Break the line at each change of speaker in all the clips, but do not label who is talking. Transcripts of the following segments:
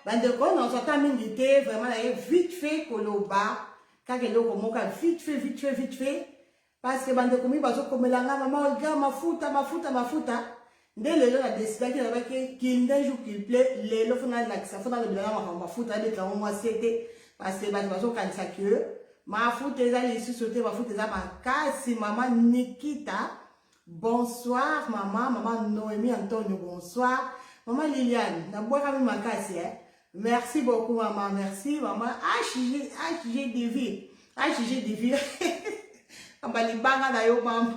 bandeko nazo ata mingi te vraiment naye vite fait koloba kaka eloko moko ya vite fait vite fait vite fait parce que bandeko mingi bazokomela nga mama olga mafuta mafuta mafuta nde lelo na desidaki nalobaki kinda jour qu'il plait lelo fo nalakisa fo nalobela na makambo mafuta abeta yango mwasi ete parce que bato bazokanisa que mafuta eza lisusu te mafuta eza makasi mama nikita Bonsoir maman, maman Noémie Antonio, bonsoir. Maman Liliane, na bwakami makasi eh. Merci beaucoup maman, merci maman. HG, HG Divi, HG Divi. Amba libanga na yo maman.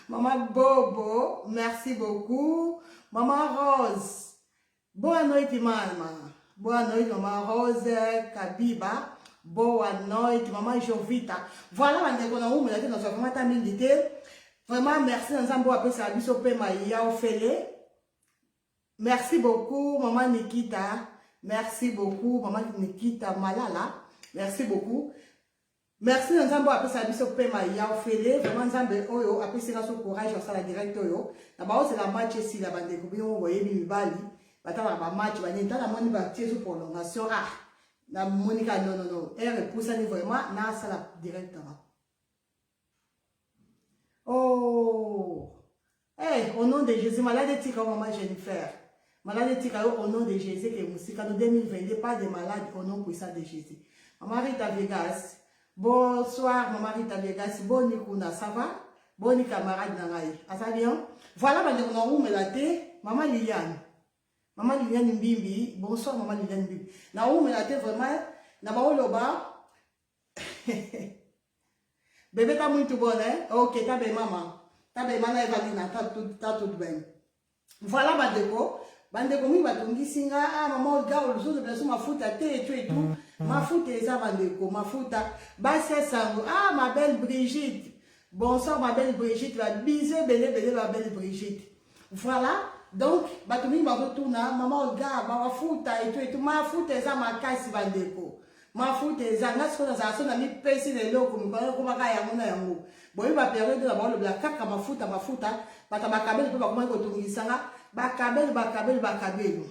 Maman Bobo, merci beaucoup. Maman Rose, Boa noite mama. Boa noite mama Rose Kabiba. Boa noite mama Jovita. Voilà bandeko na umela te nazwa vraiment ata mingi te. Vraiment merci na Nzambe oyo apesaka biso pema ya ofele. Merci beaucoup mama Nikita. Merci beaucoup mama Nikita Malala. Merci beaucoup. Merci na nzambe apesa biso pema ya ofele vraiment nzambe oyo apesi nga so courage ya sala direct oyo na baozela match esila bandeko bino boyebi mibali batalaka ba match ba nini tala moni ba tie so prolongation ah na monika non non non heure epusani vraiment na sala directement oh Eh, au nom de Jésus, malade etika maman Jennifer. Malade etika yo au nom de Jésus que musika no 2022 pas de malade au nom puissant de Jésus. Maman Rita Vegas. Bonsoir maman Rita Vegas. Boni kuna, ça va? Boni camarade na ngai. Aza bien? Voilà ba ndeko na umela te, maman Liliane. Maman Liliane Mbimbi. Bonsoir maman Liliane Mbimbi. Na umela te vraiment na ba oloba Bebe tá muito bom, né? Ok, tá bem, mamãe. Tá bem, mas na Evalina, tá tudo, tá tudo bem. Voilà, Badeco. Bandeko mingi batungisi nga, ah, mama oga olususu biso mafuta te etu etu. Mm, mm. Mafuta eza bandeko, mafuta. Basi ya sango, ah, ma belle Brigitte. Bonsoir, ma belle Brigitte. Ba bisous ebele ebele, ma belle Brigitte. Voilà, donc bato mingi bazotuna mama olga bawafuta etu etu mafuta eza makasi bandeko mafuta eza nga sikoyo nazala so na mipesi na eloko mikolo ekomaka yango na yango boyebi baperiode na baolobela kaka mafuta mafuta bato bakabeli mpe bakomaki kotungisa nga bakabeli bakabeli bakabeli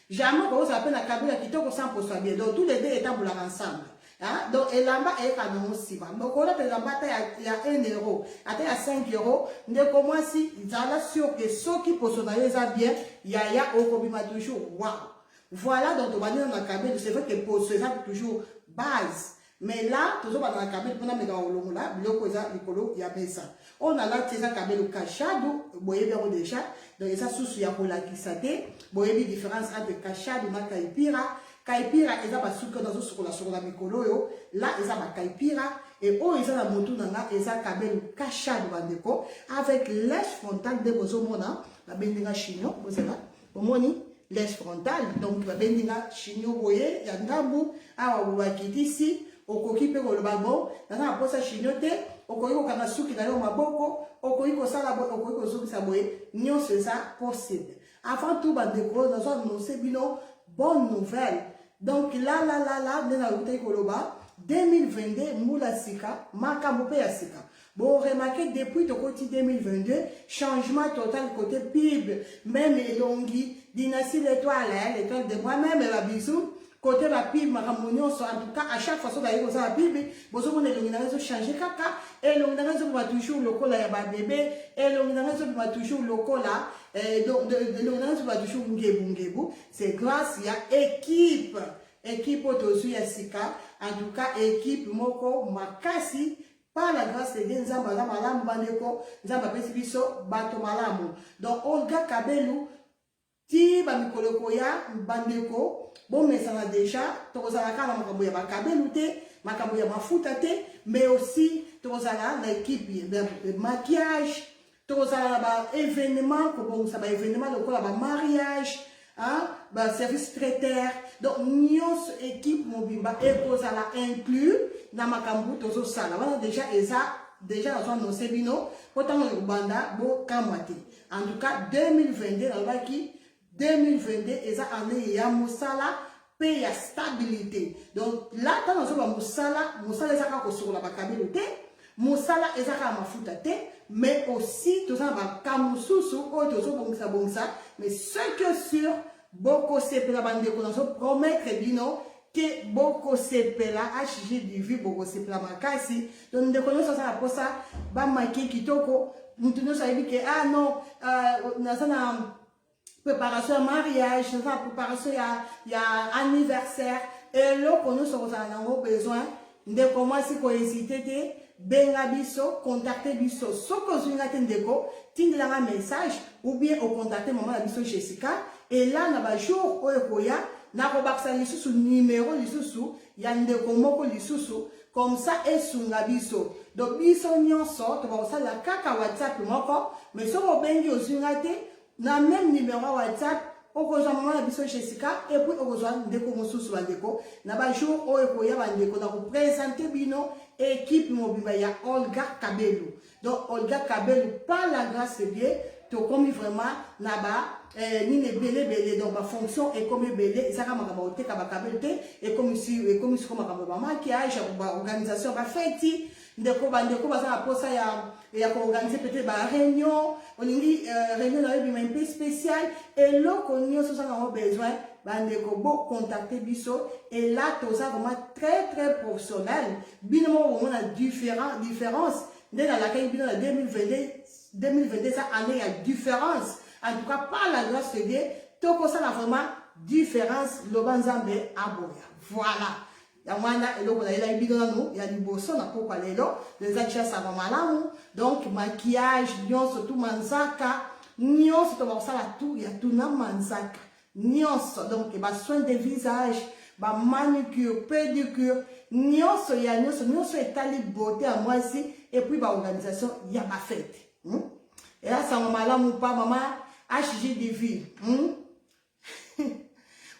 Jamais okoki kozala mpe na kabila kitoko sans poso ya bien. Donc tous les deux etambolaka ensemble. Hein? Donc elamba eyeka nango nsima. Okolata elamba ata ya, ya 1 euro, ata ya 5 euro, ndeko mwasi zala sur que soki poso na yo eza bien, yaya okobima toujours. Wow. Voilà donc tobandi na kabila, c'est vrai que poso eza toujours base. Mais là, tozo bana na kabelo pona meka olongola biloko eza likolo ya mesa. On a là eza kabelo kashado boyebi yango déjà. Donc eza susu ya kolakisa te. Boyebi différence entre kashado na kaipira. Kaipira eza basuki oyo nazo sukola sukola mikolo oyo. Là eza ba kaipira et oyo eza na motu na nga eza kabelo kashado bandeko avec lèche frontale nde bozo mona babendi nga chignon bozela omoni les frontal donc babendi nga shinio boye ya ndambu awa bobakitisi okoki mpe koloba bo naza na mposa shinio te okoki kokanga suki na yo maboko okoki kosala boye okoki kozongisa boye nyonso eza possible avant tout bandeko nazo annonce bino bonne nouvelle donc lalalala nde nautaki koloba 2022 mbula sika makambo mpe ya sika Bo remarquer depuis tokoti 2022 changement total côté pub même elongi dynastie l'étoile hein, l'étoile de moi même ba bisous côté ba pub makambo nyonso en tout cas à chaque fois soki aye kozala pub bozomona elongi na ngai ezochange kaka elongi na ngai ezobima toujours lokola ya babebe elongi na ngai ezobima toujours lokola eh, donc elongi na ngai ezobima toujours ngebu ngebu c'est grâce ya équipe équipe oyo tozwi ya sika en tout cas équipe moko makasi Par la grâce de Dieu, Nzambe aza malamu bandeko, Nzambe apesi biso bato malamu. Donc Olga Kabelu ti ba mikolo ekoya bandeko bomesana deja tokozala kaka na makambo ya bakabelu te makambo ya mafuta te mais aussi tokozala na ekipe ya maquillage Tokozala na ba evenement kobongisa ba evenement lokola ba mariage hein, ba service traiter donc nyonso équipe mobimba ekozala inclus na makambo tozosala wana déjà eza déjà nazo annonce bino mpo ntango ekobanda bokamwa te en tout cas 2022 nalobaki 2022 eza année ya mosala pe ya stabilité donc la ntango azoba mosala mosala eza kaka kosokola bakabelo te mosala eza kaka mafuta te mais aussi toza na baka mosusu oyo tozobongisa bongisa mais ce que sur bokosepela bandeko nazopromettre bino ke bokosepela hg divi bokosepela makasi to ndeko nyonso aza na mposa bamaki kitoko moto nyonso ayebi ke ah non euh, naza na préparation ya mariage eza préparation ya, ya anniversaire eloko nyonso kozala nango besoin ndeko mwasi kohésite te benga biso contacte biso soki ozwi nga te ndeko tindela nga message ou bien ocontacte mama na biso jessica ela na bajour oyo ekoya nakobakisa lisusu numero lisusu ya ndeko moko lisusu comme ça esunga biso donc biso nyonso tokoka kosalela kaka whatsapp moko mais soki obengi ozwi ngai te na meme numero ya whatsapp okozwa mama na biso jessica epuis okozwa ndeko mosusu bandeko na bajour oyo ekoya bandeko na kopresente bino ekipe mobimba ya olga kabelu donc olga kabelu par la grâce de dieu tokomi vraiment na ba eh, nini ebele ebele donc bafonction ekomi ebele ezaka makambo koteka bakabelo te ekomi siko makambo bamakiage baorganisation ya bafeti ndeko bandeko baza na mposa ya ya koorganize peut-être bareunion olingi euh, reunion na yo ebima mpe spéciale eloko nyonso ozanga yango besoin bandeko bocontacte biso et là toza vraiment très très professionnel bino moko bomona différence nde nalakaki bino na 2022 2022 eza année ya différence en tout cas par la grâce de dieu tokosala vraiment différence loba nzambe aboya voilà yango wana eloko nayelaki bino nanu ya liboso na pokwa lelo eza tiasama malamu donc maquillage nyonso tu manzaka nyonso tobakosala tu ya tuna manzaka nionso donc ba soins de visage ba manucure pedicure nionso ya nionso nionso etali beauté ya mwasi et puis ba organisation ya ba fete hmm? eya sango malamu pa mama HGDV hmm?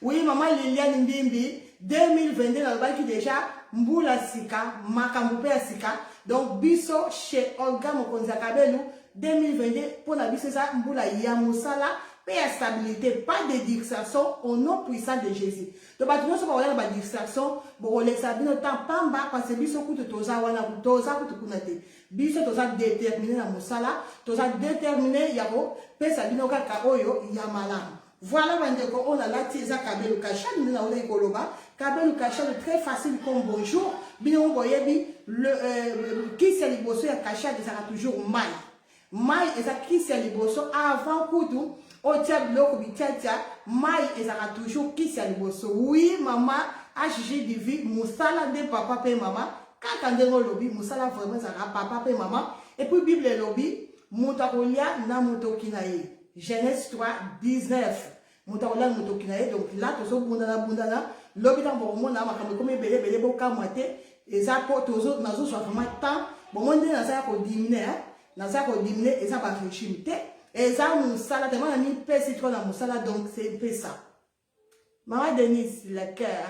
oui mama Liliane Mbimbi 2022 nalobaki deja mbula sika makambo mpe ya sika donc biso chez Olga Mokonzi ya Kabelu 2022 mpo na biso eza mbula ya mosala pe ya stabilite pas de distraction au nom puissant de Jésus to bato nyonso bakoya na ba distraction bokolekisa bino temps pamba parce biso kutu toza wana toza kutu kuna te biso toza déterminé na mosala toza déterminé ya kopesa bino kaka oyo ya malamu voilà bandeko oyo nalati eza kabelu kashani nde naolaki koloba kabelu kashani très facile comme bonjour bino boyebi euh, kisi ya liboso ya kashani ezalaka toujours mai Mayi eza kisi ya liboso avant kutu otia biloko bitiatia mayi ezaka toujours kisi ya liboso oui mama HGDV musala nde papa pe mama kaka ndenge olobi musala vraiment ezaka papa pe mama et puis bible elobi moto akolia na motoki na ye Genèse 3 19 moto akolala motoki na ye donc la tozobundana bundana lobi ntango bokomona makambo ekomi ebele ebele bokamwa te eza mpo nazozwa vraiment temps bongo nde naza ya kodimine naza ya kodimine eza barégime te eza mosala tellement na mipesi tro na mosala donc c'est mpe ça mama denise le cœur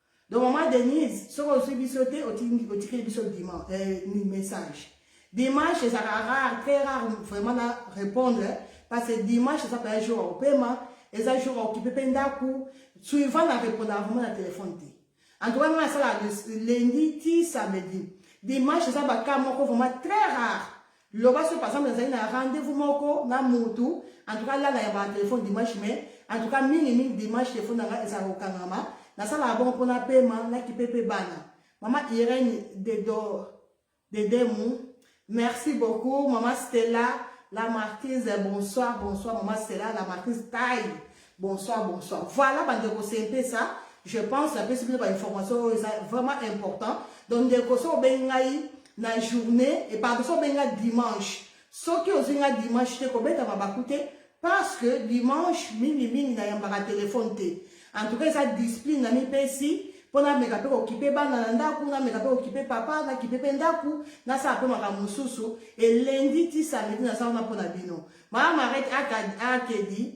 Donc maman Denise, soki ozwi biso te otikeli biso dimanche euh, message. Dimanche ezalaka rare, très rare vraiment na répondre parce que dimanche eza paya jour ya kopema, eza jour ya okipe mpe ndako, suivant na répondaka vraiment na téléphone te. En tout cas ngai nasalaka lundi ti samedi. Dimanche eza baka moko vraiment très rare. Loba soki par exemple nazali na rendez-vous moko na mutu en tout cas lala ya ba telephone dimanche mais en tout cas mingi mingi dimanche telephone na ngai ezalaka kokangama nasalaka bongo mpo napema nakipe mpe bana mama Irène dedo dedemu merci beaucoup mama Stella la marquise bonsoir bonsoir mama Stella la marquise taille Bonsoir, bonsoir. Voilà, bande de c'est ça. Je pense, la plus de information est vraiment important. Donc, de Koso Bengaï, la journée, et par exemple, Benga dimanche. Ce qui est Benga dimanche, c'est qu'on met à Babakouté, parce que dimanche, mini, mini, n'a yamba un téléphone. En tout cas, ça discipline, n'a mis ici. mpo nameka mpe kokipe bana na ndako nameka mpe kokipe papa nakipe mpe ndako nasala mpe makambo mosusu elendi ti samedi naza wana mpo na bino mama marete akedi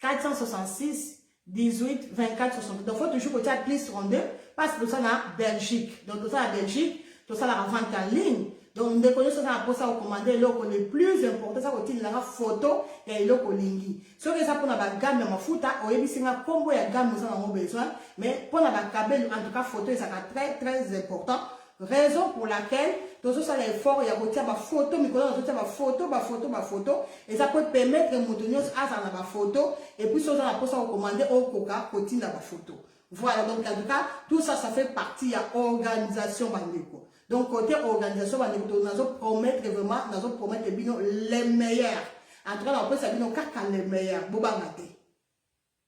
466 18 24 60 donc faut toujours kotia plus 32 parce toza na belgique donc toza na belgique tosalaka vente en ligne donc ndeko nyonso aza na mposa kokomanda eloko le plus important eza kotindelanga foto ya eloko olingi soki eza mpona bagame ya mafuta oyebisi nga nkombo ya game oza nango besoin mais mpona bakabelo en tout cas foto ezalaka très très important raison pour laquelle tozosala effort ya kotia bafoto mikolo na totia bafoto bafoto bafoto eza po epermettre moto nyonso azala na bafoto epuis oza na mposa kokomande okoka kotinda bafoto voilà donc en tout cas tout ça ça fait partie ya organisation bandeko donc côté organisation bandeko nazo promettre vraiment nazo promettre bino le meilleur en tout cas nakopesa bino kaka le meilleur bobanga te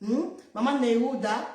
hmm? mama neuda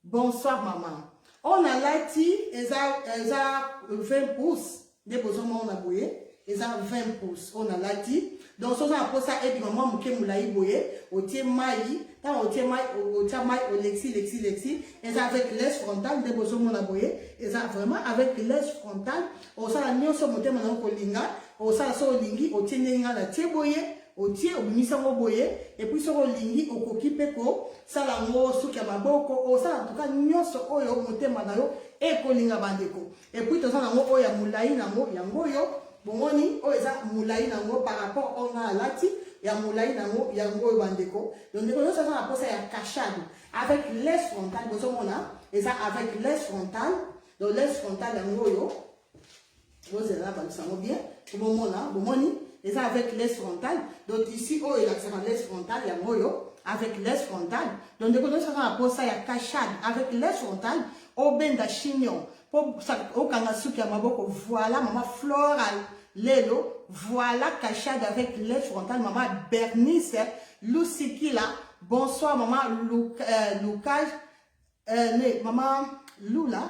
bonsoir mama oyo nalati eza eza 20 pouce nde bozomona boye eza 20 pouce oyo nalati donc soki oza na mposa ebima mwa moke molai boye otie mai ntango otie mai otia mai olexi lexi lexi eza avec les frontal nde bozomona boye eza vraiment avec les frontal osala nyonso motema na yo kolinga osala so olingi otie ndenge nga na tie boye otie obimisi yango boye epuis soki olingi okoki mpe kosala yango suki ya maboko osala ntuka nyonso oyo motema na yo ekolinga bandeko epuis toza nango oyo ya molai nango yango oyo bomoni oyo eza molai nango par rapport oyo ngai alati ya molai nango yango oyo bandeko donc ndeko nyonso aza na mposa ya cachade avec les frontal bozomona eza avec les frontal donc les frontal yango oyo bozela nabakisa yango bien po bomona bomoni eza avec les frontal donc ici oyo elakisaka les frontal yango oyo avec les frontal donc ndeko nyonso aza na posa ya cachade avec les frontal obenda chignon po okanga suki ya maboko voilà mama floral lelo voilà cachade avec les frontal mama bernice lusikila bonsoir mama euh, lukage euh, mama lula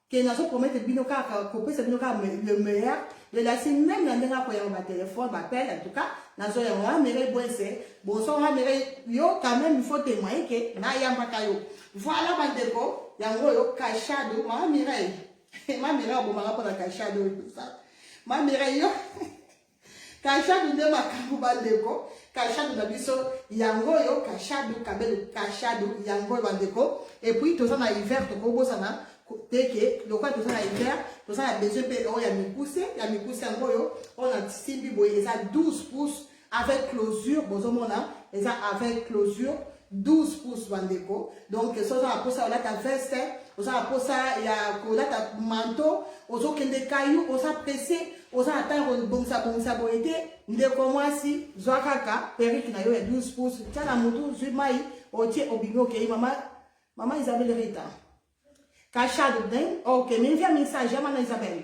que nazo promettre bino kaka kopesa bino kaka le meilleur de la scène même na ndenge akoyamba ba téléphone ba appel en tout cas nazo yango ha mere bwese bonso ha mere yo quand même il faut témoigner que na yambaka yo voilà bandeko yango oyo kashado mama mireille ma mireille abomaka mpo na kashado oyo ma mireille yo Kashadu nde makambo bandeko, kashadu na biso yango oyo, kashadu kabelu, kashadu yango oyo bandeko. Et puis toza na hiver tokobosana te ke lokola toza na hiver toza na besoin mpe oyo ya mikuse ya mikuse yango oyo oyo na simbi boye eza 12 pouces avec closure bozomona eza avec closure 12 pouces bandeko donc so oza na mposa ya kolata veste oza na mposa ya kolata manto ozokende kayu oza presse oza na ntango kobongisa bongisa boye te ndeko mwasi zwa kaka perike na yo ya 12 pouces tya na motu zwi mai otie obimi okei mama mama isabel rita kashado den ok minvia message ya mama isabel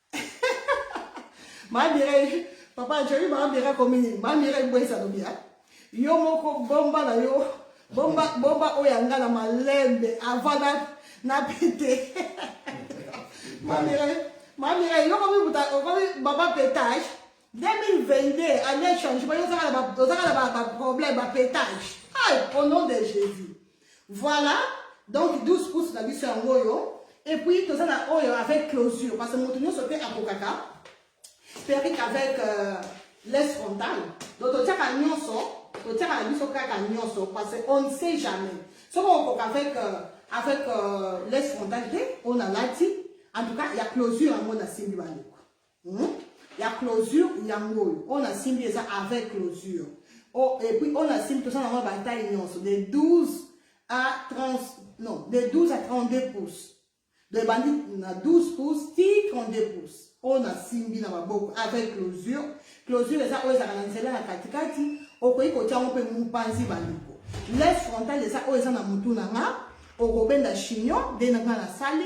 ma Mireille papa Jolie ma Mireille komi nini ma Mireille bwesa lobi hein yo moko bomba na yo bomba bomba oyo anga na malembe avant na na pete ma Mireille ma Mireille yo komi buta komi baba pétage 2022 année changement yo ozaka na ba ozaka na ba problème ba pétage au nom de Jésus Voilà, donc 12 pouces na biso yango oyo et puis toza na oyo avec closure parce que moto nyonso te akokaka perruque avec euh, laisse frontale donc totiaka nyonso totiaka na biso kaka nyonso parce que on ne sait jamais soki okoka avec euh, avec euh, laisse frontale te oyo nalati en tout cas ya closure yango nasimbi bandeko Hmm? ya closure yango oyo oyo nasimbi eza avec closure oh, et puis oyo nasimbi tosala yango bataille nyonso de 12 à 30 non de 12 à 32 pouces de ebandi na 12 pouces ti 32 pouces oyo nasimbi na maboko avec closure closure eza oyo ezalaka na nzela na katikati okoki kotya yango mpe mopanzi bandeko les frontal eza oyo eza na motu na nga okobenda chignon nde na nga nasali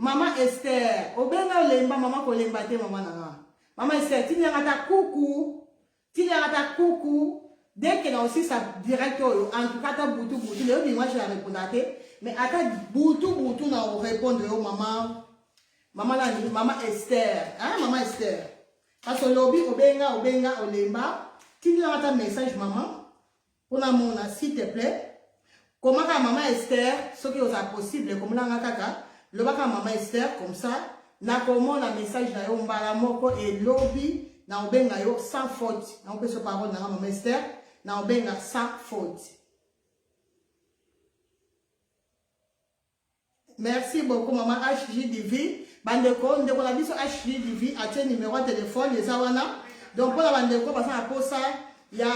Maman Esther, obenga olemba maman kolemba te maman na nga. Maman Esther, tindi yanga ta kuku. Tindi yanga ta kuku. Dès que na aussi sa direct oyo, en tout cas ta butu butu, le obi moi je la répondre te, mais ata butu butu na o répondre yo maman. Maman la maman Esther, hein maman Esther. Parce que lobi obenga obenga olemba, tindi yanga ta message maman. Pona mona s'il te plaît. Komaka maman Esther soki oza possible komona nga kaka lobaka maman Esther comme ça nakomona message na yo mbala moko et lobi na obenga yo sans faute na opeso parole na nga maman Esther na obenga sans faute Merci beaucoup maman HJDV. Bandeko, ndeko na biso HJDV atie numero ya telefone eza wana. Donc mpo na bandeko baza na posa ya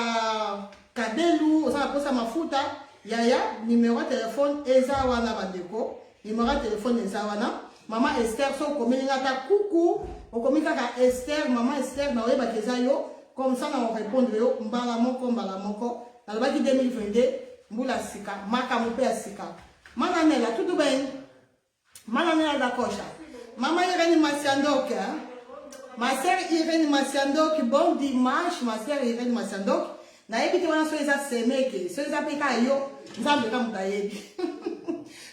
kabelu, oza na posa mafuta, yaya numero ya telefone eza wana bandeko. Numero ya telefone eza wana. Mama Esther, so okomeli nga ata kuku, okomi kaka Esther, mama Esther, na oyebaki eza yo, comme ça na orepondre yo mbala moko mbala moko. Nalobaki 2022 mbula sika, makambo mpe ya sika. Mana nela tudo bem? Mana nela da coxa. Mama Irene Maciandoc, hein? Ma sœur Irene Maciandoc, bon dimanche, ma sœur Irene Maciandoc. nayebi te wana soki eza semeke soki eza mpe ka yo nzambe ka moto ayebi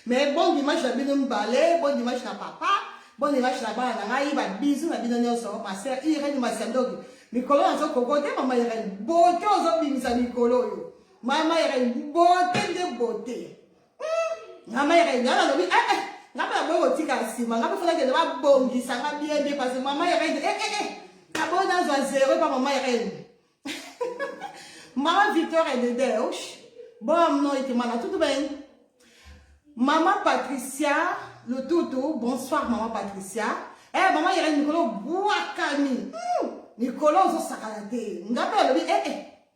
mais bon dimanche na bino mibale bon dimanche na papa bon dimanche na bana na ngai babizu na bino nyonso master irene masiandoki mikolo nazokokote mama irene bote ozobimisa mikolo oyo mama yere bote nde bote mama yere nga nalobi ee eh, eh, nga mpe naboyi kotika nsima nga mpe fo nakende babongisa nga bien bien parce mama yere ee eh, naboyi nazwa zero epa mama yere mama victor edede osh boa noite mana tutu ben mama patricia lututu bonsoir mama patricia eh mama yere mikolo bwakami hmm, mikolo ozosakana te nga mpe alobi ee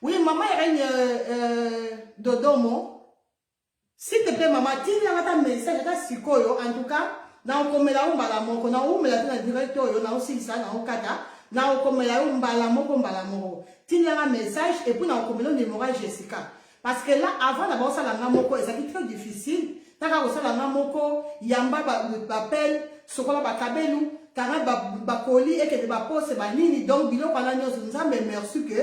Oui, maman Irène euh, euh, Dodomo, s'il te plaît, maman, tina nga ta message ata sikoyo, en tout cas, na okomela yo mbala moko, na omela te na direct oyo, na osilisa, na okata, na okomela yo mbala moko, mbala moko. Tina nga message, et puis na okomela yo numéro ya Jessica. Parce que là, avant la bossa la moko, ça qui très difficile. T'as qu'à bossa la moko, yamba bapel, sokola bakabelu, kara bakoli, et que de bapose, banini, donc bilo kala nyozo, nzambe merci que,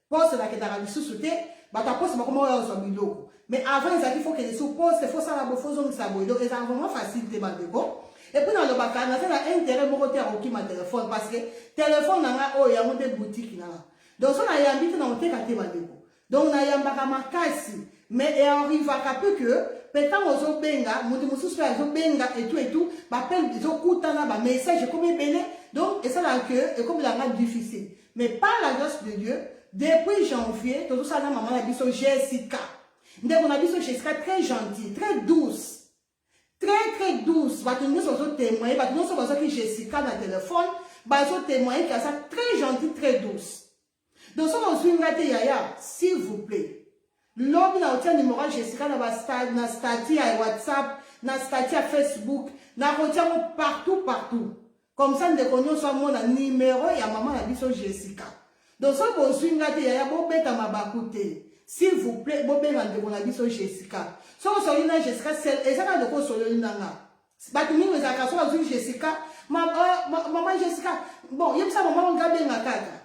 pose la que t'as bisusu te, bata pose bakoma ya ozo biloko. Mais avant, ils qu'il faut que les sous pose, faut ça la bofo zong sa boyo, donc ils ont vraiment facile te bandeko. Et puis dans le baka, n'a fait un intérêt moko te à roki ma téléphone, parce que téléphone n'a pas, oh, y'a monté boutique n'a. Donc ça n'a y'a habité dans le téléphone, donc nayambaka makasi mais earrivaka mpe ke mpe ntango ozobenga moto mosusu mpe azobenga etu etu bapele ezokutana bamessage ekomi ebele donc esalaka ke ekomelanga difficile mais par la grâce de dieu depuis janvier tozosala na mama na biso jessica ndeko na biso jessica très gentil très douce très très douce bato nyonso bazotemoye bato nyonso bazwaki jessica na telefone bazotemoye ke aza très gentil très douce Donc soki ozui nga te yaya s'il vous plait lobi na otia numero ya Jessica na ba na statut ya WhatsApp na statut ya Facebook na kotia ngo partout partout comme ça ndeko nyonso amona numero ya mama na biso Jessica donc soki bozui nga te yaya bobeta mabaku te s'il vous plaît bobenga ndeko na biso Jessica soki osololi na Jessica sel eza na loko osololi na nga bato mingi ezalaka so bazwi jessica euh, mama jessica bon yebisa mama onga benga kaka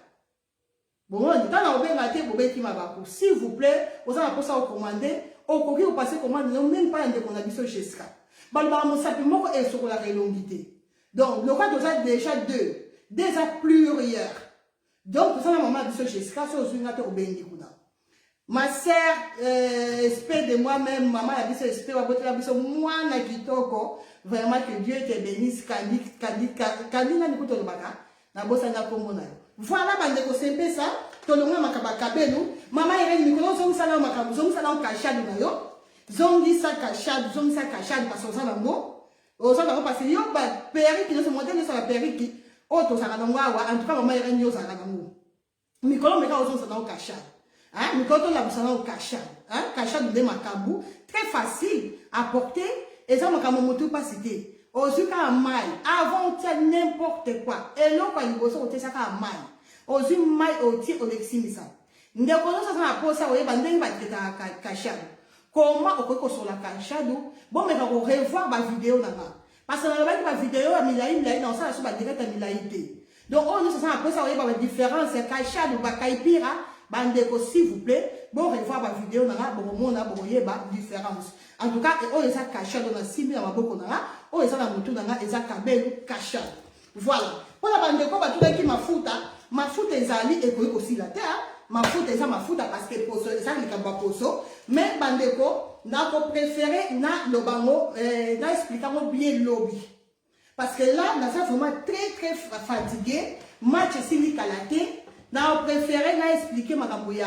bomoni ntango na kobenga te bobeti mabaku s'il vous plaît oza na mposa okomande okoki kopase komande yo meme mpa ya ndeko na biso jessica balobaka mosapi moko esokolaka elongi te donc lokola toza déjà deux deux eza plurieur Donc toza na maman biso Jessica so ozui nga te obendi kuna. Ma sœur euh, esprit de moi même maman ya biso esprit babotela biso mwana kitoko vraiment que Dieu te bénisse kandi kandi kandi nani kuto lobaka na bosanga kombo na yo. Voilà bande ko sempesa tolonga makaba kabelu maman Irene mikolo zongisa na makambo zongisa na kashadu na yo zongisa kashadu zongisa kashadu parce que oza na ngo oza nango parce yo ba perruque nyonso modèle nyonso ya ba perruque oyo tozalaka nango awa en tout cas mama irene yo ozalaka nango mikolo meka ozonza nango kasha hein mikolo tolamusa nango kasha hein kasha nde makambo très facile à porter eza makambo motu mpasi te ozwi kaka mai avant otia n'importe quoi eloko ya liboso otiesa kaka mai ozwi mai otie olekisimisa Ndeko nyonso aza na posa koyeba ndenge batraitaka kashadu koma okoki kosola kashadu bomeka korevoir bavideo na nga parce nalobaki bavideo ya milai milai na osala so badirect ya milai te donc oyo nyonso aza na posa koyeba badifférence ya kashadu bakaipira bandeko s'il vous plaît borevoir bavideo na nga bokomona bokoyeba différence en tout cas oyo eza kashado na simbi na maboko na nga oyo eza na motu na nga eza kabelu kashado Voilà. Mpo na bandeko batunaki mafuta, mafuta ezali ekoki kosila te. Hein? Mafuta eza mafuta parce que poso eza likambo ya poso. Mais bandeko nako préféré na lobango eh, na expliquer yango bien lobi. Parce que là naza vraiment très très fatigué, match esili kala te. Na préféré na expliquer makambo ya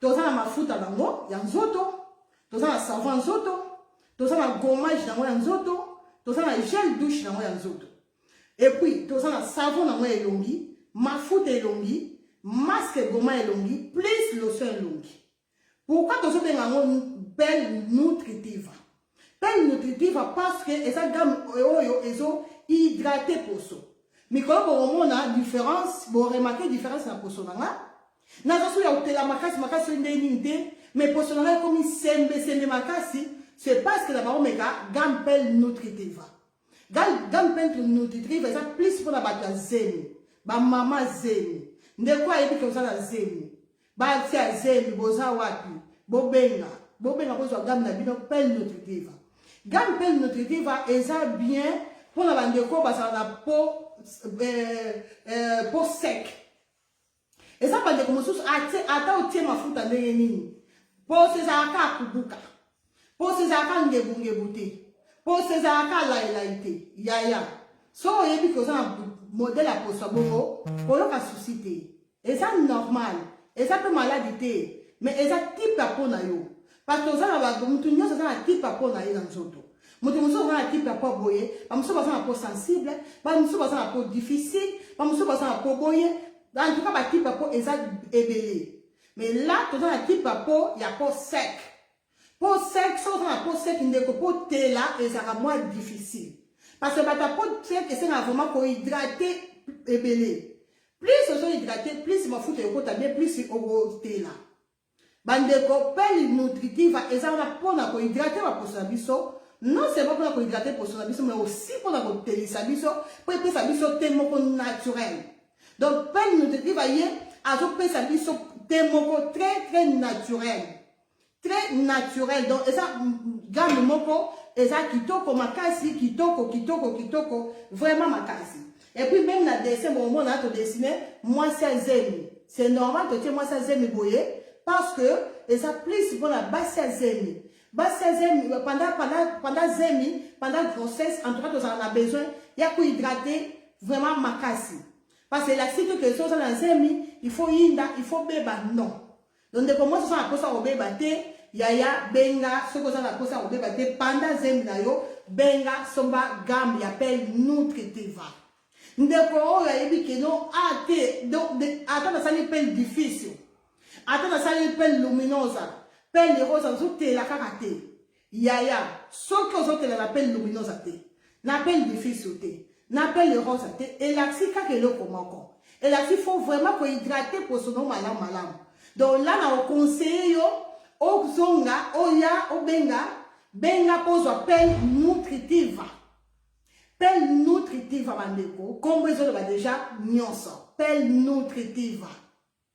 Toza na mafuta nango ya nzoto, toza na savon ya nzoto, toza na gommage nango ya nzoto, toza na gel douche nango ya nzoto. Et puis toza na savon nango ya elongi, mafuta elongi, masque goma elongi, plus lotion elongi. Pourquoi tozo benga yango belle nutritive? Pelle nutritiva parce que eza gamme oyo ezo hydrate poso. Mikolo bokomona différence, bo remarquer différence na poso na nga. Naza solo ya kotela makasi makasi oyo ndenge nini te, mais poso na nga ekomi sembe sembe makasi, c'est parce que na bango meka gamme pelle nutritiva. Gamme pelle nutritiva eza plus mpona bato ya zemi, ba mama zemi. Ndeko ayebi ke oza na zemi. Batia zemi boza wapi? Bobenga, bobenga bozwa gamme na bino pelle nutritiva. Gamme pelle nutritiva eza bien mpo na bandeko bazala na po euh, euh, po sec. Eza bandeko mosusu ata otie mafuta ndenge nini, poso ezalaka kubuka. Poso ezalaka ngebungebu te. Poso ezalaka laelayi te. Yaya, soki oyebi ke oza na modele ya poso ya bongo, koyoka susi te. Eza normal. Eza mpe maladi te. Me eza tipe ya mpo na yo. Parce oza na bato, moto nyonso aza na tipe ya mpo na ye na nzoto. Moto mosusu aza na tipe ya mpo boye, bamosusu baza na mpo sensible, bamosusu baza na mpo difficile, bamosusu baza na mpo boye. En tout cas, batipe ya mpo eza ebele. Mais là, toza na tipe ya mpo ya mpo sec. Po sec soki oza na po sec ndeko po tela ezalaka mwa difficile. Parce que bato ya po sec esengaka vraiment ko hydrater ebele. Plus ozo hydrater, plus mafuta ekota bien, plus okotela. Bandeko, pelle nutritiva eza wana pona ko hydrater baposo na biso, non seulement pona ko hydrater poso na biso, mais aussi pona kotelisa biso, po epesa biso te moko naturel. Donc pelle nutritiva ye azopesa biso te moko très très naturel. très naturel donc eza gamme moko eza kitoko makasi kitoko kitoko kitoko vraiment makasi et puis même na dessin bomona todessine mwasi ya zemi c'est normal totie mwasi ya zemi boye parce que eza plus mpona basi ya zemi basi ya zemi panda panda panda zemi panda grossesse en tout cas tozala na besoin ya kohydrate vraiment makasi parce que elakisi to ke soki oza na zemi il faut yinda il faut beba non Donc ndeko mwasi oza na posa kobeba te, yaya benga soki oza na posa kobeba te panda zemi na yo, benga somba gamme ya pelle Notre Teva. Ndeko oyo ayebi keno a te, donc ata nasali pelle difficile, ata nasali pelle luminosa, pelle rosa, nazotela kaka te. Yaya soki ozotela na pele luminosa te na pele difiso te na pele rosa te elakisi kaka eloko moko elakisi faut vraiment kohydrate poso no malamu malamu donc la na oconseille yo ozonga oya obenga benga mpo ozwa pele nutritiva pele nutritiva bandeko nkombo ezoloba deja nyonso pele nutritiva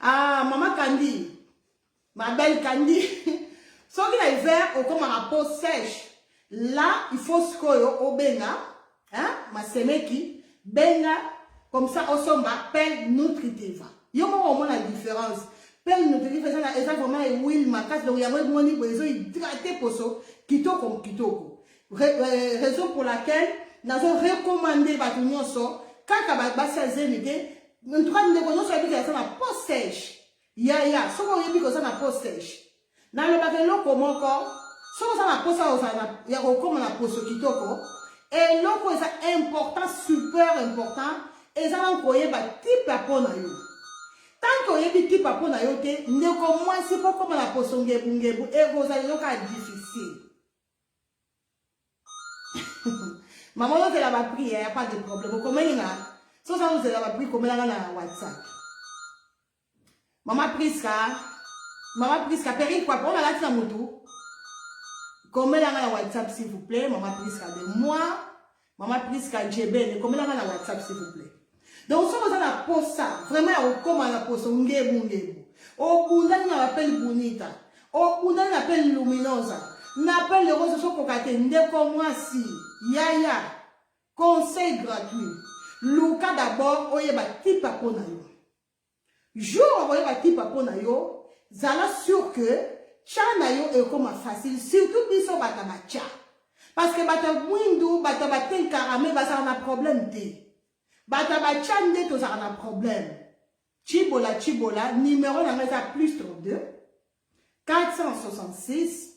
Ah, maman Candy, ma belle Candy, soki na hiver okomaka peau sèche, là il faut sikoyo obenga hein, masemeki benga comme ça osomba pelle nutritive. Yo moko omona différence. Pelle nutritive eza na eza vraiment huile makasi donc yango emoni boye ezo hydrater poso kitoko kitoko. Re, euh, raison pour laquelle nazo recommander bato nyonso kaka basi ya zemi te En tout cas, ndeko nyonso ayebi ke aza na po sèche. Yaya, soki oyebi ke oza na po sèche, nalobaka eloko moko, soki oza na posa ya kokoma na poso kitoko, eloko eza important, super important, eza na koyeba type ya po na yo. Tant que oyebi type ya po na yo te, ndeko mwasi kokoma na poso ngebu ngebu, ekozala yo kaka difficile. Maman ozela ba prix, il hein, n'y a pas de problème. Okomeli nga. Si oza ozela ba prix, komela nga na WhatsApp. Maman Prisca, Maman Prisca, perruque quoi, on a la tsa mutu. Komela nga na WhatsApp s'il vous plaît, Maman Prisca de moi. Maman Prisca Njebene, komela nga na WhatsApp s'il vous plaît. Donc soki oza na posa vraiment ya kokoma na poso ngebu ngebu, obundani na bapeli Bunita, obundani na peli Luminosa, na peli Lerosa sokoka te ndeko mwasi yaya conseil gratuit luka d'abord oyeba tipa mpo na yo Jour okoyeba tipa po na yo, zala sur que cha na yo ekoma facile, surtout biso bata ba cha. Parce que bata mwindu, bata ba ten karame bazala na problème te. Bata ba cha nde tozala na problème. Chibola Chibola, numéro na nga eza plus 32 466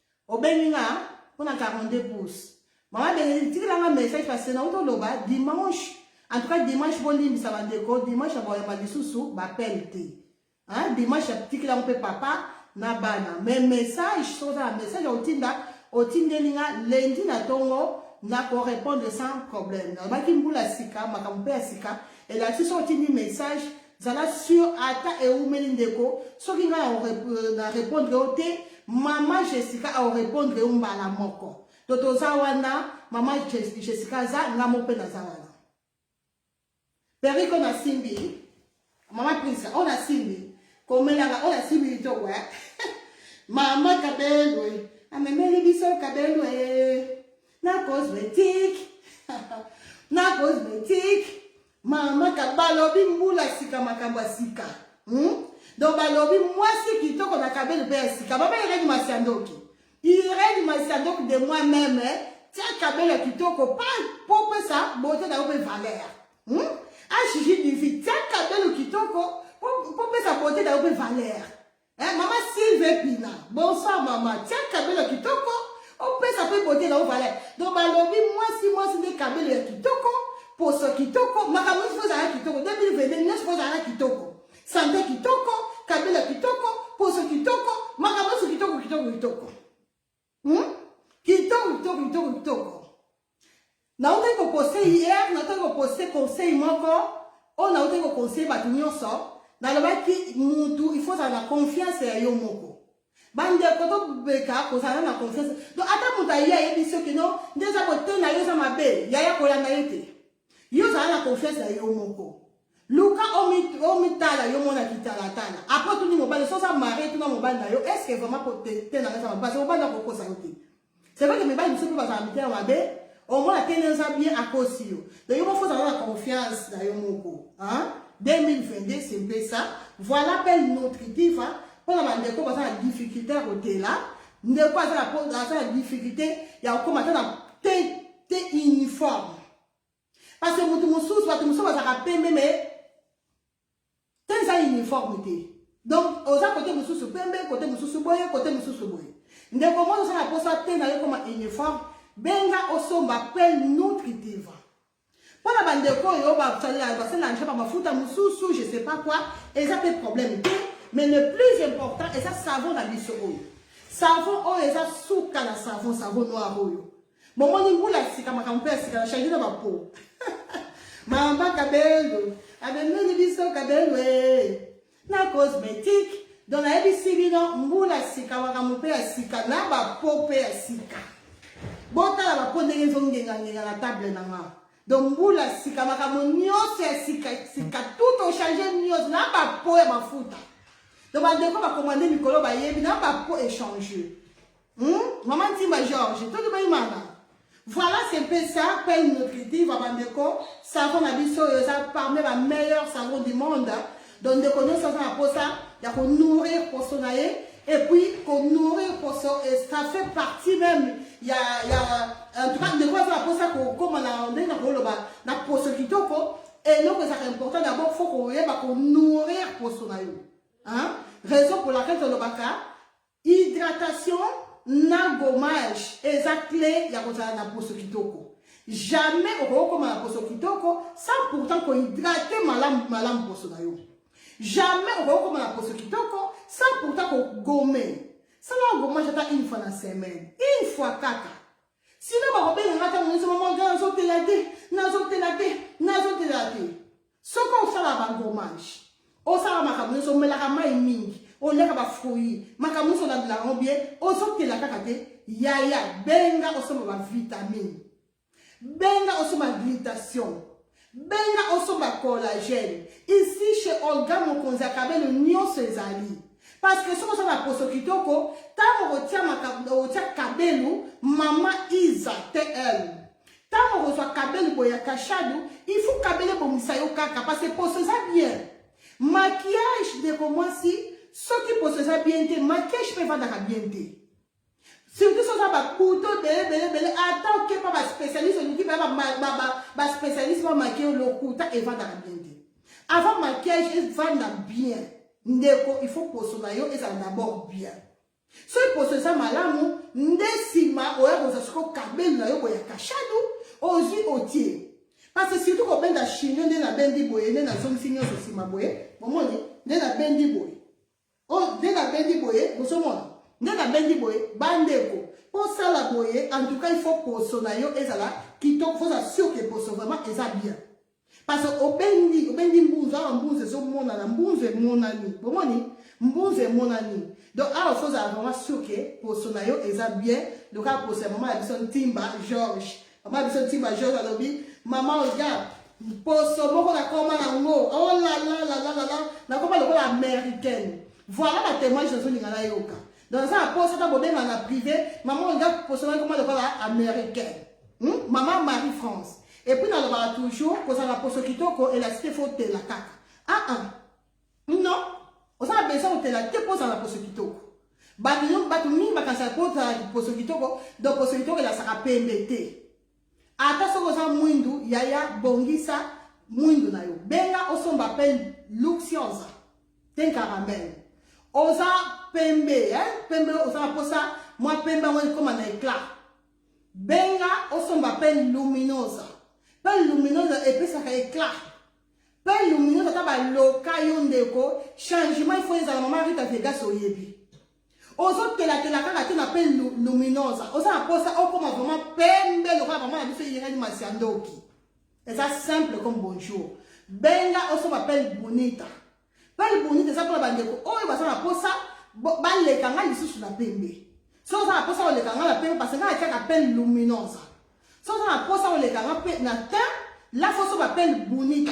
obengi nga mpo na 42 pouces mama benedicte tikela nga message parce na utoloba dimanche en tout cas dimanche bolimbisa bandeko dimanche ya boyamba lisusu bapele te dimanche tikela ngo mpe papa na bana me message soki oza na message ya kotinda otindeli nga lendi na ntongo nakorepondre sans problème nalobaki mbula sika makambo mpe ya sika elakisi soki otindi message Zala sur ata ewumeli ndeko soki nga euh, na repondre yo te mama Jessica au repondre yo mbala moko to toza wana mama Jessica aza nga moko mpe naza wana periko nasimbi mama prince oyo nasimbi komelaka oyo nasimbi litoko eh? mama kabelwe amemeli biso kabelwe na cosmetique na cosmetique Mama ka balobi mbula sika makambo ya sika. Hmm? Donc balobi mwasi kitoko na kabeli mpe ya sika. Baba Irene Masiandoki. Irene Masiandoki de moi-même eh, tia kabeli ya kitoko pa po pesa bote na yo mpe valeur. Hmm? Ashiji divi tia kabeli kitoko po pesa bote na yo mpe valeur. Eh, mama Silve Pina, bonsoir mama. Tia kabelo kitoko, opesa pe bote na ovale. Donc balobi mwasi mwasi nde kabelo ya kitoko, poso kitoko, makambo nyonso ozala kitoko. 2022 nyonso ozala kitoko. Sante kitoko, kabelo kitoko, poso kitoko, makambo nyonso kitoko kitoko kitoko. Hmm? Kitoko kitoko kitoko kitoko. Nautaki ko poster hier, nautaki ko poster conseil moko oyo nautaki ko conseil bato nyonso. Nalobaki mutu il faut ozala na confiance ya yo moko. Bandeko tobeka kozala na confiance. Donc ata moto aye ayebi soki no nde eza kote na yo eza mabe, yaya kolanda ye te. Yo zala na confiance na yo moko. Luka omitala yo mona kitalatala. Après tuni mobali soki oza marie tuna mobali na yo est ce que vraiment ko te te na nga sama parce que mobali ako kosa yo te. C'est vrai que mibali biso pe bazala mitema mabe omona te neza bien akosi yo. Donc yo faut zala na confiance na yo moko. Hein? 2022 c'est un peu ça. Voilà pe notre diva mpo na bandeko baza na difficulté ya kotela ndeko aza na difficulté ya kokoma ata na te te uniforme parce que moto mosusu bato mosusu bazalaka pembe me te eza uniforme te donc oza kote mosusu pembe kote mosusu boye kote mosusu boye ndeko moko oza na mposa te na yo koma uniforme benga osomba pe nutritiva mpo na bandeko oyo basalelaka bamafuta mosusu je sais pas quoi eza pe problème te mais le plus important eza savon na biso oyo savon oyo eza suka na savon savon noir oyo Bomoni mbula ya sika makambo mpe ya sika na change na bapo. Mamba kabendo abendeli biso kabendo ee na cosmétique donc nayebisi bino mbula ya sika makambo mpe ya sika na bapo mpe ya sika. Botala bapo ndenge ezongengangenga na table na nga. Donc mbula ya sika makambo nyonso ya sika sika tout ochange nyonso na bapo ya mafuta. Donc bandeko bakomande mikolo bayebi na bapo echange. Hum, maman Timba Georges, toki bayimana. Voilà, c'est un peu ça, pas une nutritive, bandeko, savon na biso, eza parmi ba meilleurs savons du monde. Donc, ndeko nyo savon na posa, ya ko nourrir poso na ye, et puis, ko nourrir poso, et ça fait partie même, ya, ya, en tout cas, ndeko aza na posa, ko, koma na, ndenge na ko loba, na poso kitoko, et non, ça c'est important, d'abord, faut ko yeba, ko nourrir poso na yo. Hein? Raison pour laquelle, to lobaka, Hydratation na gommage eza clé ya kozala na poso kitoko. Jamais okoki koma na poso kitoko sans pourtant ko hydrater malamu malamu poso na yo. Jamais okoki koma na poso kitoko sans pourtant ko gommer. Sala gommage ata une fois na semaine, une fois kaka. Sinon bakobenga nga ntango nyonso mama nga nazotela te, nazotela te, nazotela te. Soki osalaka ba gommage, osala makambo nyonso, omelaka mai mingi, oliaka ba fruits, makambo nyonso olandela yango bien, ozotela kaka te, yaya benga osomba ba vitamine, benga osomba glutation, benga osomba collagène. Ici chez Olga Mokonzi ya Kabelo nyonso ezali. Parce que soki oza na poso kitoko, ntango okotia makambo, okotia Kabelo, mama Isa, TL. Tango okozwa kabeli boye ya kashadu, il faut kabeli ebongisa yo kaka parce que poso eza bien. Maquillage ndeko mwasi soki poso eza bien te, maquillage mpe evandaka bien te. Surtout soza ba couteau bele bele bele ata oke pa ba spécialiste olingi ba ba ba spécialiste ba maquillage lokuta evandaka bien te. Avant maquillage evanda bien. Ndeko il faut poso na yo ezala d'abord bien. Soki poso eza malamu nde nsima oya kozwa soko kabelu na yo boya kashadu ozwi otie parce surtout kobenda chine nde nabendi boye nde nazongisi nyonso nsima boye bomoni nde nabendi boye o oh, nde nabendi boye bozomona nde nabendi boye bandeko mposala boye en tout cas il faut poso na yo ezala kitoko foza sur ke poso vraiment eza bien Parce que obendi, obendi mbunzu, awa mbunzu ezomonana, mbunzu emonani, bomoni? Mbunzu emonani. Donc awa fozala vraiment sûr que poso na yo eza bien, loka poso ya mama ya biso Ntimba Georges. Mama ya biso Ntimba Georges alobi, mama oya, poso moko nakoma nango, oh la la la la la la, nakoma lokola américaine. Voilà ba témoignage nazolinga nayoka. Donc ça a posé ta bobema na privé, maman on regarde pour seulement comment le parle américain. Hmm? Maman Marie France. Et puis dans le bar toujours, pour ça la poso kitoko et la cité faut te la caca. Ah ah. Non. On a besoin de la te pour ça la poso kitoko. Batu yo batu mingi bakasa pour ça la poso kitoko, donc poso kitoko la saka pembete. Ata soki oza mwindu yaya bongisa mwindu na yo benga osomba pe luxiosa te caramel oza pembe eh? pembe oza na posa mwa pembe yango ekoma na eclat benga osomba pe luminosa pe luminosa epesaka eclat pe luminosa ata baloka yo ndeko changement ifo ezala mama rita vegas oyebi Ozo tela tela kaka te na pe luminosa. Oza na posa okoma vraiment pembe lokola maman na biso yengani masi ya ndoki. Eza simple comme bonjour. Benga osoma pelle bonita. Pelle bonita eza pona bandeko oyo baza na posa baleka ngai lisusu na pembe. So oza na posa oleka ngai na pembe parce que ngai atiaka pelle luminosa. So oza na posa oleka ngai na teint, la faut osoma pelle bonita.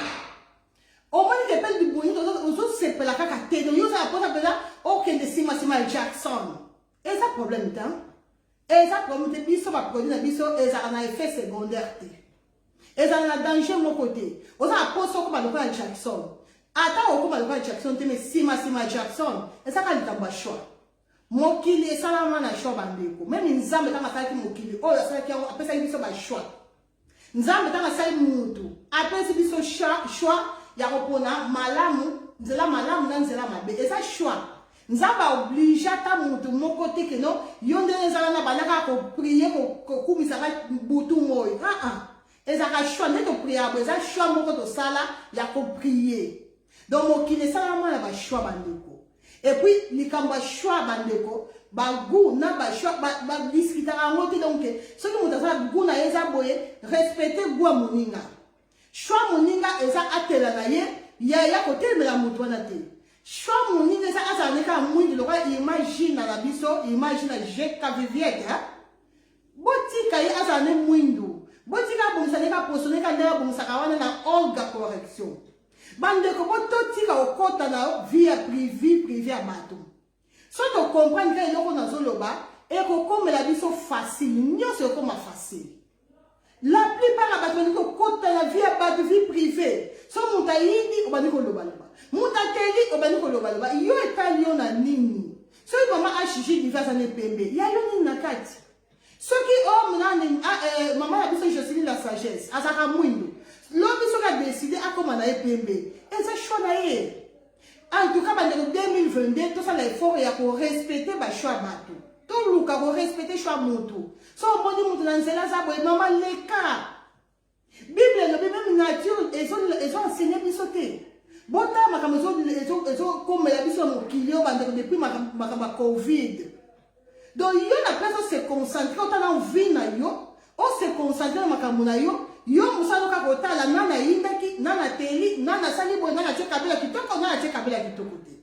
omoni ke mpe libongi ozosepela kaka te yo oza na mposa mpenza okende simasima ya jackson eza problème te eza problème te biso baproduit na biso ezalaka na effet secondaire te ezala na danger moko te oza na mposa okoma lokola jackson ata okoma lokola jackson te mais nsima nsima jackson ezaka likambo ya choix mokili esalama na choix bandeko meme nzambe ntango asalaki mokili oyo asalaki yango apesaki biso bachoix Nzambe ntango asali mutu apesi biso choix ya kopona malamu nzela malamu na nzela mabe eza choix nzambe aoblige ata motu moko te keno yo nde ezala na banda kaka koprie kokumisa ka butu moi aa ah, ah. ezalaka choix nde topriaka bo eza choix moko tosala ya koprie Donc mokili esalama na ba choix ba ndeko. Et puis likambo ya choix ba ndeko, ba goût na ba choix ba, ba discutaka yango te donc soki moto aza goût na ye eza boye, respecter goût ya moninga. Choix moninga eza atela na ye ya ya kotelemela moto wana te. Choix moninga eza azala ne kaka mwindu lokola imagine na biso, imagine na je ka viviette hein? Botika ye azala ne mwindu. Botika abongisa ndenge aposo ndenge ndenge abongisaka wana na Olga correction. Bandeko bo totika kokota na vie ya privi privi ya bato. So tocomprendre ka eloko nazoloba ekokomela biso facile nyonso ekoma facile. La plupart ya bato balingi kokota na vie ya bato vie privée. So moto ayindi obandi kolobaloba, moto akeli obandi kolobaloba, yo etali yo na nini? Soki mama HG divi aza na epembe, ya yo nini na kati? Soki o oh, nani ah, eh, mama na biso Joseline la sagesse azalaka mwindo, lobi soki adeside akoma na ye pembe, eza choix na ye. En tout cas, bandeko 2022, tosala effort ya ko respecter ba choix bato. Toluka ko respecter choix moto. So omoni moto na nzela aza boye, mama leka. Bible elobi meme nature ezo ezo enseigner biso te. Botala makambo ezo ezo ezo komela biso na mokili oyo bandeko depuis makambo ya Covid. Donc yo na place o se concentrer otala vie na yo, o se concentrer na makambo na yo, yo mosala kaka kotala nani ayindaki, nani ateli, nani asali boye, nani atie kabela kitoko, nani atie kabela kitoko te.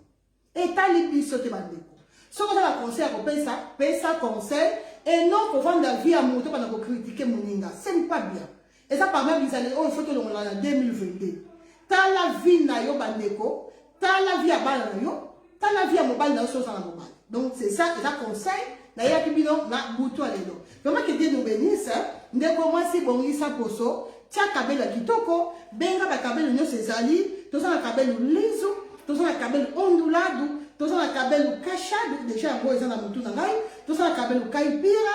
Etali biso te bandeko. Soki oza na conseil ya kopesa, pesa conseil et non kovanda vie ya moto bana kokritike moninga. Ce n'est pas bien. eza parmi bizaleli oyo faut tolongola na 2022 tala vie na yo bandeko tala vie ya bana na yo tala vie ya mobali na yo soki oza na mobali donc c'est ça eza conseil nayaki bino na butu ya lelo vraiment que dieu nous bénisse ndeko mwasi bongisa poso tia kabelo ya kitoko benga bakabelo nyonso ezali toza na kabelo lizu toza na kabelo onduladu toza na kabelo kashadu deja yango eza na motu na ngai toza na kabelo kaipira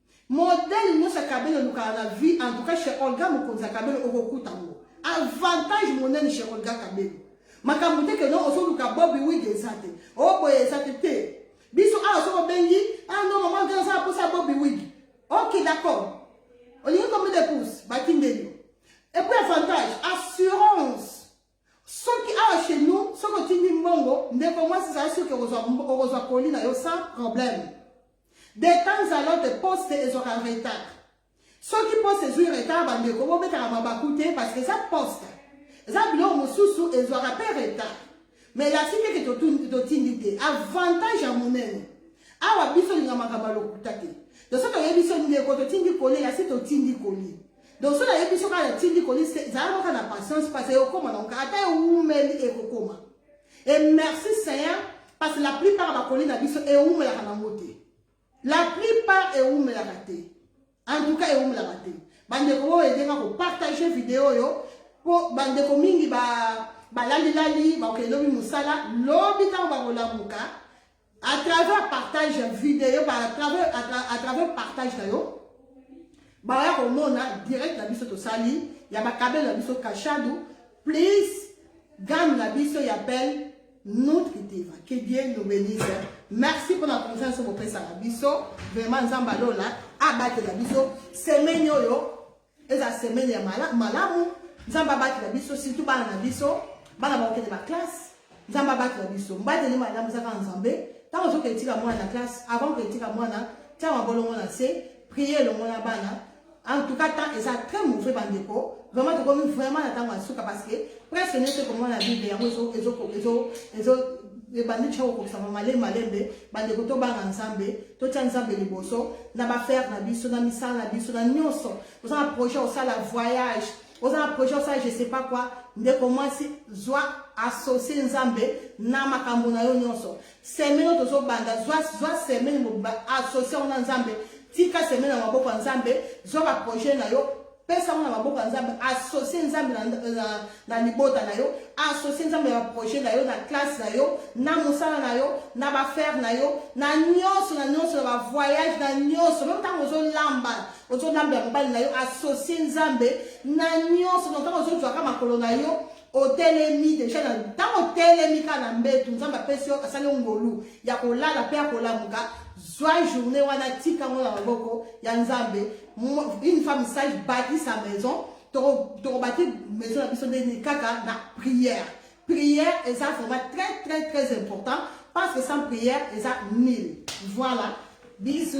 Modèle nionso ya Kabelo olukaka na vie en tout cas chez Olga Mokonzi ya Kabelo okokuta ngo. Avantage monene chez Olga Kabelo. Makambo te que non ozoluka Bobby Wig eza te. Oh boye eza te te. Biso awa soko bengi ah non maman ngai nasala posa Bobby Wig. Ok d'accord. Olingi combien de pouces? Batindeli. Et puis avantage assurance Soki awa chez nous, soki otindi mbongo, ndeko mwasi zala soki okozwa colis na yo sans problème. De temps à l'autre, poste ezwaka retard. Soki poste ezwi retard, bandeko bobetaka mabaku te parce que eza poste. Eza biloko mosusu ezwaka mpe retard. Mais la site ke totindi te, avantage ya monene. Awa biso linga makambo ya lokuta te. Toso toyebi so ndeko totindi colis, la site otindi colis. Donc soki nayebi biso kaka natindi colis te zala kaka na patience parce ekokoma nango kaka ata ewumeli ekokoma et merci seigneur parce la plupart ya bakoli na biso ewumelaka nango te la plupart ewumelaka te en tout cas ewumelaka te bandeko oyo edenga kopartage video oyo mpo bandeko mingi balalilali bakokende lobi mosala lobi ntango bakolamuka à travers partage ya video à travers, à travers partage na yo baya komona direct na biso tosali ya bakabele na biso kashadu please gamme na biso ya belle notre diva que dieu nous bénisse merci mpona confiance bopesaka biso vraiment nzambe alola abatela biso semaine oyo Eza semaine ya mala, malamu. Nzambe abatela biso, surtout bana na biso. Bana bakokende ba classe. Nzambe abatela biso. Mbateli malamu eza kaka Nzambe. Ntango ozokende tika mwana na classe, avant okende tika mwana, tia mabolongo na se, prier elongo na bana. En tout cas, temps eza très mauvais bandeko. Vraiment tokomi vraiment na ntango ya suka parce que presque nyonso ekomona na Bible yango ezo ezo ezo ezo ebandi tya kokokisama malembe malembe bandeko tobanga nzambe totya nzambe liboso na bafere na biso na misala na biso na nyonso oza na projet osala voyage oza na projet osala je sais pas quoi ndeko mwasi zwa associe nzambe na makambo na yo nyonso semene oyo tozobanda zwa, zwa semene associe yango na nzambe tika semene na maboko ya nzambe zwa baprojet na yo Pesa yango na maboko ya Nzambe, associe Nzambe na, na, na libota na yo, associe Nzambe na projet na yo, na classe na yo, na mosala na yo, na bafere na yo, na nyonso, na nyonso, na bavoyage, na nyonso. Meme ntango ozolamba, ozolambela mobali na yo, associe Nzambe na nyonso. Ntango ozozwaka makolo na yo, otelemi deja na ntango otelemi kaka na mbetu nzambe apesi yo asali ngolu ya kolala mpe ya kolamuka zwa journée wana tika yango na maboko ya nzambe une femme sage bâti sa maison tokobati maison na biso ndeni kaka na prière prière eza vraiment très très très important parce que sans prière eza nil voilà bisous